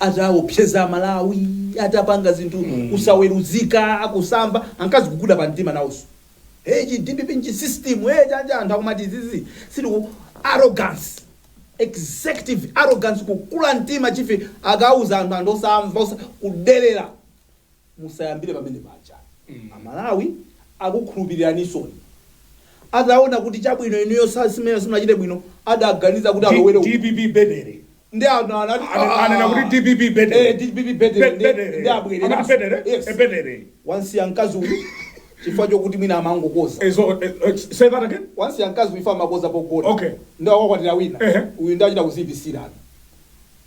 ataopseza amalawi atapanga zinthu kusaweruzika kusamva ankaziguguda pa mtima nawoso hey chi dpp nchi system hey chija anthu akumati izizi ndi zili ku arrogance executive arrogance kukula mtima chife akauza anthu anthu osamva osa- kudelera musayambire pamene paja amalawi akukhulupiriraninsoni adaona kuti chabwino inuyo sa- simene simachite bwino adaganiza kuti alowere uku. dpp betere ndi anthu anati Ana- anena kuti dpp Eh, betere dpp Be- betere ndi- betere. ndi Amati betere Eh, abwerere betere wamsiya mkazi uyu chifukwa chokuti mwina amangokodza Eh, so, eh, eh, say that again wamsiya mkazi uyu ifa amakodza pogona Okay. nde akakwatira wina Ehe. uyu ndi achita kuzipisirana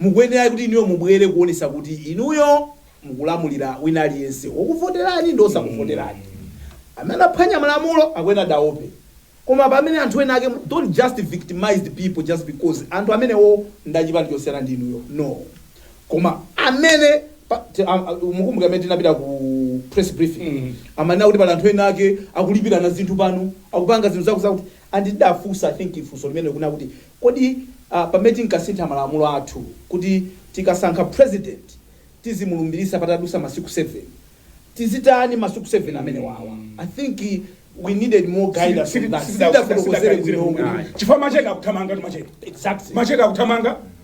mukuyenera kuti inuyo mubwere kuonetsa kuti inuyo mukulamulira wina aliyense wokuvoterani ndi wosakuvoterani. Amene anaphwanya malamulo akuyeneradi aope. Koma pamene anthu ena ake don't just victimize the people just because anthu amenewo ndi achipani chosiyana ndi inuyo no. Koma amene pa, te, a, a, mukumbuka amene tinapita ku press briefing amanena kuti pali anthu ena ake akulipirana zinthu pano akupanga zinthu zakutizakuti And tidafunsa I think funso limenelo kunena kuti kodi pamene tinkasintha malamulo athu kuti tikasankha president tizimulumbiritsa patadusa masiku 7 tizitani masiku 7 amenewawa I think we needed more guidance on that. Sitidafotokozere bwino kuti. Chifukwa macheke akuthamangatu macheke. Exactly. Macheke akuthamanga.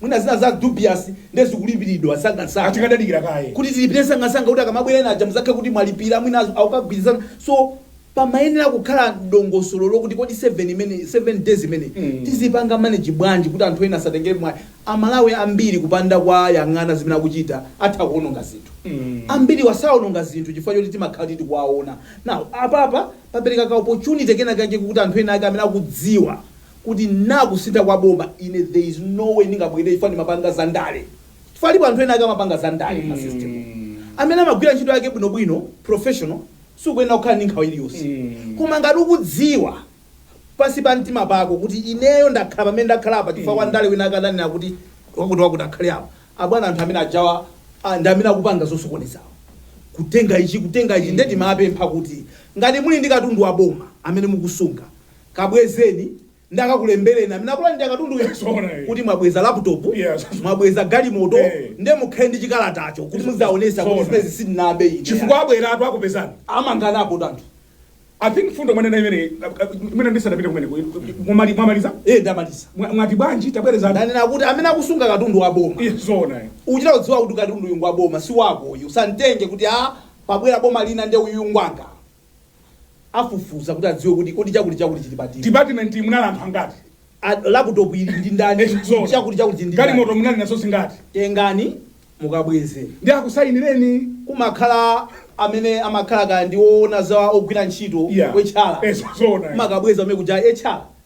Mwina zina za dubious nde zikulipiridwa msangamsanga. Tikadadikira kaye kuti tilipire msangamsanga kuti akamabwera ena aja muzakhale kuti mwalipira mwina akugwirizana so pamayenera kukhala dongosolo lokuti kodi 7 imeneyi 7 days imeneyi tizipanga manage bwanji kuti anthu ena asatengere mwayi. Amalawi ambiri kupanda kuwayang'ana zimene akuchita atha kuononga zinthu. Ambiriwa saononga zinthu chifukwa choti timakhala kuti tikuwaona. Now apapa papereka ka opportunity kena kake kokuti anthu ena ake amene akudziwa kuti nako kusintha kwa boma ine there is no way ndingabwerere chifukwa ndimapanga za ndale chifukwa alipo anthu ena ake amapanga za ndale mma system mu amene amagwira ntchito yake bwino bwino professional sukuyenera kukhala ndi nkhawa iliyonse koma ngati ukudziwa pansi pa mtima pako kuti ineyo ndakhala pamene ndakhala apa chifukwa wandale wina ake ananena kuti wakuti wakuti akhale apa abwana anthu amene ajawa ah, ndi amene akupanga zosokonezawo kutenga ichi kutenga ichi nde timapempha kuti ngati muli ndi katundu wa boma amene mukusunga kabwezeni nde akakulembereni amene akulandira katunduyo Yeah, zoona, eh. kuti mwabweza laptop Yeah, so- mwabweza galimoto Eh. nde mukhale ndi chikalatacho kuti muzaonetsa kuti Zoona. zimenezi sindinabe ine chifukwa abweratu akupezani amanganapotu anthu i think fundo mwanena imeneyo ndisadapite kumene mwamali- mwamaliza iye ndamaliza Mwa- mwati bwanji tabwereza ndanena kuti amene akusunga katundu wa boma Iye, zoona eh. uchita kudziwa kuti katundu uyu ngwa boma si wako uyu usamtenge kuti a pabwera boma lina nde uyu ngwanga afufuza kuti adziwe kuti kodi chakuti chakuti chili pati mu department munali anthu angati A- laptop ili ndi ndani Eh, zoona. chakuti chakuti chili ndi ndani galimoto munali nazo zingati tengani mukabweze ndi akusayinireni kumakhala amene amakhala kaya ndi woona za ogwira ntchito Yeah. achala Eh, zoona. mumakabweza amene kuja achala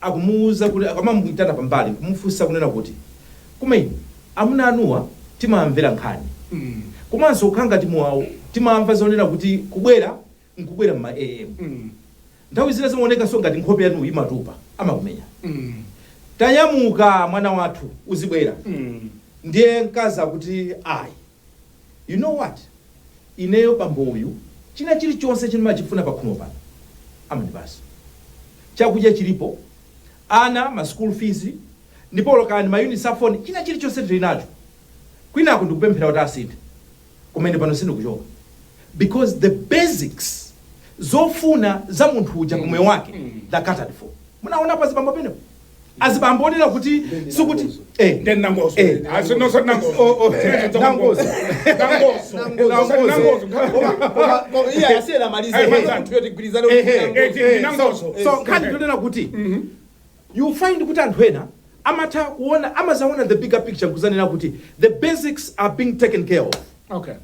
akumuuza kuti akamamuitana pambali nkumufunsa kunena kuti, Koma inu amuna anuwa timawamvera nkhani komanso kukhala ngati muawo timamva zonena kuti kubwera n'kubwera m'ma AM nthawi zina zimaonekanso ngati nkhope yanu imatupa amakumenya Tanyamuka mwana wathu uzibwera ndiye mkazi akuti ayi. You know what? Ineyo bambo uyu china chilichonse chimene ndimachifuna pakhomo pano amandipasa. Chakudya chilipo, ana ma school fees, ndipo olo kaya ndi ma units a phone, china chilichonse tili nacho. Kwinaku ndikupemphera kuti asinthe koma ine pano sindikuchoka because the basics zofuna za munthu uja pamoyo wake they are catered for. Munaonapo azibambo penepo? azibambo onena kuti sikuti eh, Then Nangozo. Eh. I said, no, sir, Nangozo. Oh, oh, Eh, it's a Nangozo. Nangozo. Nangozo. Nangozo. Nangozo. iye asiyera amalize Eh, Iye munthu yoti gwirizane Eh, eh, kuti- eh, eh, Nangozo. so nkhani ndinena kuti you find kuti anthu ena amatha kuona amazaona the bigger picture kuzaona kuti the basics are being taken care of Okay.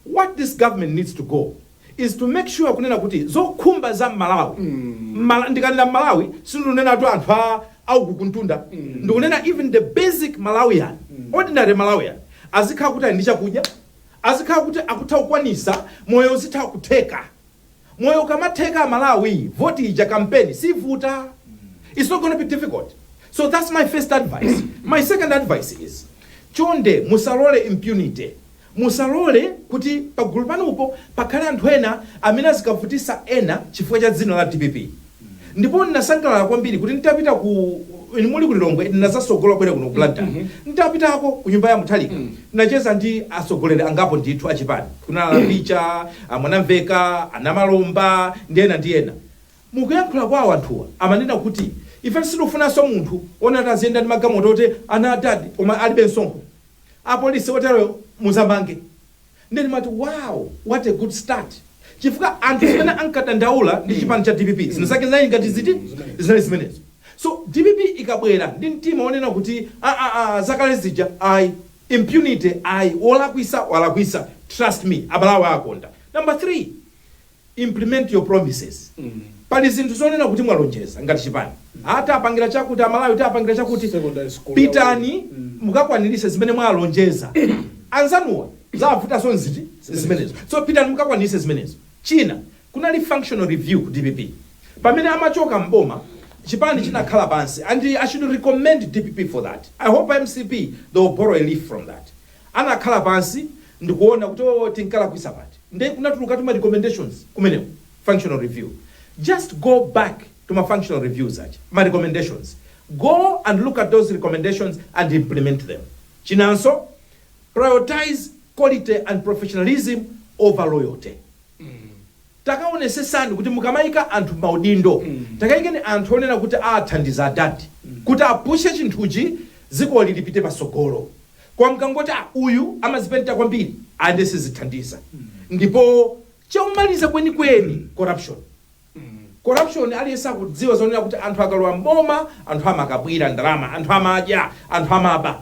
what this government needs to do is to make sure kunena kuti zokhumba za mmalawi Mmala- ndikanena mmalawi sindikunenatu anthu a uku kumtunda ndikunena even the basic malawian ordinary malawian azikhala kuti ali ndi chakudya azikhala kuti akutha kukwanisa moyo uzitha kutheka Moyo ukamatheka aMalawi vote ija kampeni sivuta it's not going to be difficult so that's my first advice. My second advice is chonde musalole impunity musalole kuti pagulu panupo pakhale anthu ena amene azikavutisa ena chifukwa cha dzina la dpp. ndipo ndinasangalala kwambiri kuti nditapita ku inu muli ku lilongwe ndinazasogola kubwera kuno ku blantyre nditapitako ku nyumba ya mutharika ndinacheza ndi atsogoleri angapo ndithu achipani kunali a Chaponda a mwanamveka a namalomba ndi ena ndi ena mukuyankhula kwawo anthuwa amanena kuti ife sitikufunanso munthu wonena kuti aziyenda ndi magalimoto oti ana adadi koma alibe msonkho apolisi oteroyo muzamange Ndiye ndimati wow what a good start chifukwa anthu zimene ankadandaula ndi chipani cha dpp zinazake zinali ngati ziti zinali zimenezo so dpp ikabwera ndi mtima wonena kuti aa aa zakale zija ayi impunity ayi wolakwisa walakwisa trust me amalawi akonda number 3 implement your promises pali zinthu zonena kuti mwalonjeza ngati chipani ah tipangira chakuti amalawi tipangira chakuti pitani mukakwanirise zimene mwalonjeza anzanuwa zawavutanso ndi zinthu zimenezo so pitani mukakwanirise zimenezo china kunali functional review ku dpp pamene amachoka mboma chipani chinakhala pansi and i should recommend dpp for that i hope mcp they will borrow a leaf from that anakhala pansi ndikuona kuti oo tinkalakwisa pati nde kunatulukatu ma recommendations kumeneko functional review just go back to ma functional reviews aja ma recommendations go and look at those recommendations and implement them chinanso priotize quality and professionalism over loyalty. Takaonesesani kuti mukamaika anthu mmaudindo takaikeni anthu onena kuti awathandiza adad kuti apushe chinthuchi zikoli lipite pasogolo koma mukangoti ah uyu amazipenta kwambiri ayi nde sizithandiza ndipo chomaliza kwenikweni corruption corruption aliyense akudziwa zonena kuti anthu akalowa mboma anthu amakabwira ndalama anthu amadya anthu amaba